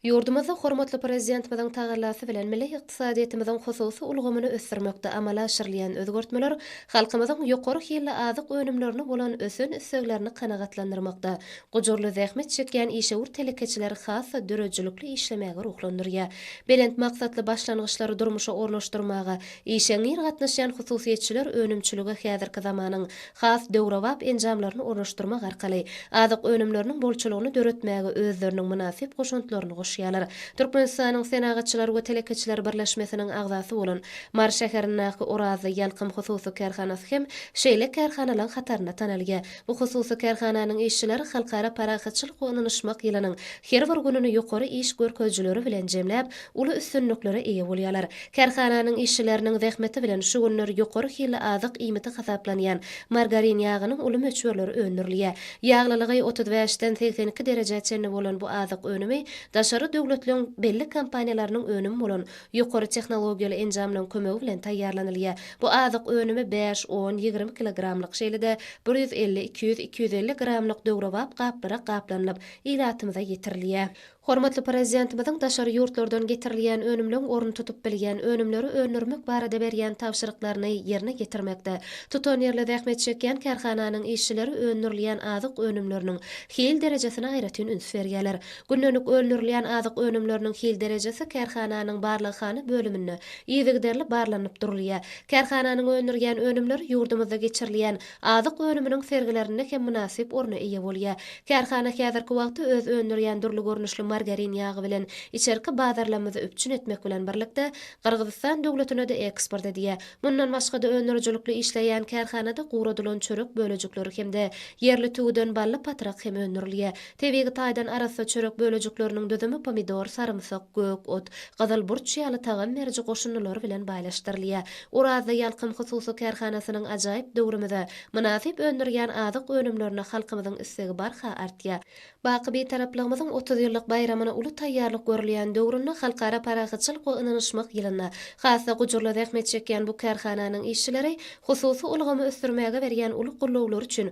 Ýurdumyzda hormatly Prezidentimiziň tagallasy bilen milli ykdysadyýetimiziň hususy ulgamyny ösdürmekde amala aşyrylýan özgertmeler halkymyzyň ýokary hilli azyk önümlerine bolan ösen isleglerini kanagatlandyrmakda gujurly zähmet çekýän işewür telekeçileri has-da döredijilikli işlemäge ruhlandyrýar, belent maksatly başlangyçlary durmuşa ornaşdyrmaga işeňňir gatnaşýan hususyýetçiler önümçilige häzirki zamanyň has döwrebap enjamlaryny ornaşdyrmak arkaly azyk önümleriniň bolçulygyny döretmäge özleriniň mynasyp goşantlaryny goşýarlar. Türkmenistanyň Senagatçylar we telekeçiler birleşmesiniň agzasy bolan Mary şäherindäki Orazly Ýalkym hususy kärhanasy hem şeýle kärhanalaň hatarynda tanalýar. Bu hususy kärhananyň işçileri Halkara parahatçylyk we ynanyşmak ýylynyň her bir gününi ýokary iş görkezijileri bilen jemläp, uly üstünliklere eýe bolýarlar. Kärhananyň işçileriniň zähmeti bilen şu günler ýokary hilli azyk iýmiti hasaplanýan margarin ýagynyň uly möçberleri öndürilýär. Ýaglylygy otuz bäşden segsen iki derejä çenli bolan bu azyk önümi daşary döwletleriň belli kompaniýalarynyň önümi bolan ýokary tehnologiýaly enjamlaryň kömegi bilen taýýarlanylýar. Bu azyk önümi bäş, on, ýigrimi kilogramlyk, şeýle-de bir ýüz elli, iki ýüz, iki ýüz elli gramlyk döwrebap gaplara gaplanylyp, ilatymyza ýetirilýär. Hormatly Prezidentimiziň daşary ýurtlardan getirilýän önümleň orun tutup bilýän önümleri öndürmek barada berýän tabşyryklaryny ýerine ýetirmekde, tutanýerli zähmet çekýän kärhananyň işçileri öndürilýän azyk önümleriniň hil derejesine aýratyn üns berýärler. Gündelik öndürilýän azyk önümleriniň hil derejesi kärhananyň barlaghana bölüminde yzygiderli barlanyp durulýar. Kärhananyň öndürýän önümleri ýurdumyzda geçirilýän Azyk önüminiň sergilerinde hem mynasyp orna eýe bolýar. Kärhana häzirki wagtda öz öndürýän dürli görnüşli margarin ýagy bilen içerki bazarlamyzy üpjün etmek bilen birlikde, Gyrgyzystan döwletine-de eksport edýär. Mundan başga-da, öndürijilikli işleýän kärhanada guradylan çörek bölejikleri hem-de ýerli tüwüden bally patrak hem öndürilýär. Tebigy taýdan arassa çörek bölejikleriniň düzümi pomidor, sarymsak, gök ot, gyzyl burç ýaly tagam beriji goşundylar bilen baýlaşdyrylýar. Orazda Ýalkym hususy kärhanasynyň ajaýyp döwrümize mynasyp öndürýän azyk önümlerine halkymyzyň islegi barha artýar. Baky Bitaraplygymyzyň otuz ýyllyk baýramyna uly taýýarlyk görülýän döwründe, Halkara parahatçylyk we ynanyşmak ýylynda has-da gujurly zähmet çekýän bu kärhananyň işçileri hususy ulgamy ösdürmäge berýän uly gollawlary üçin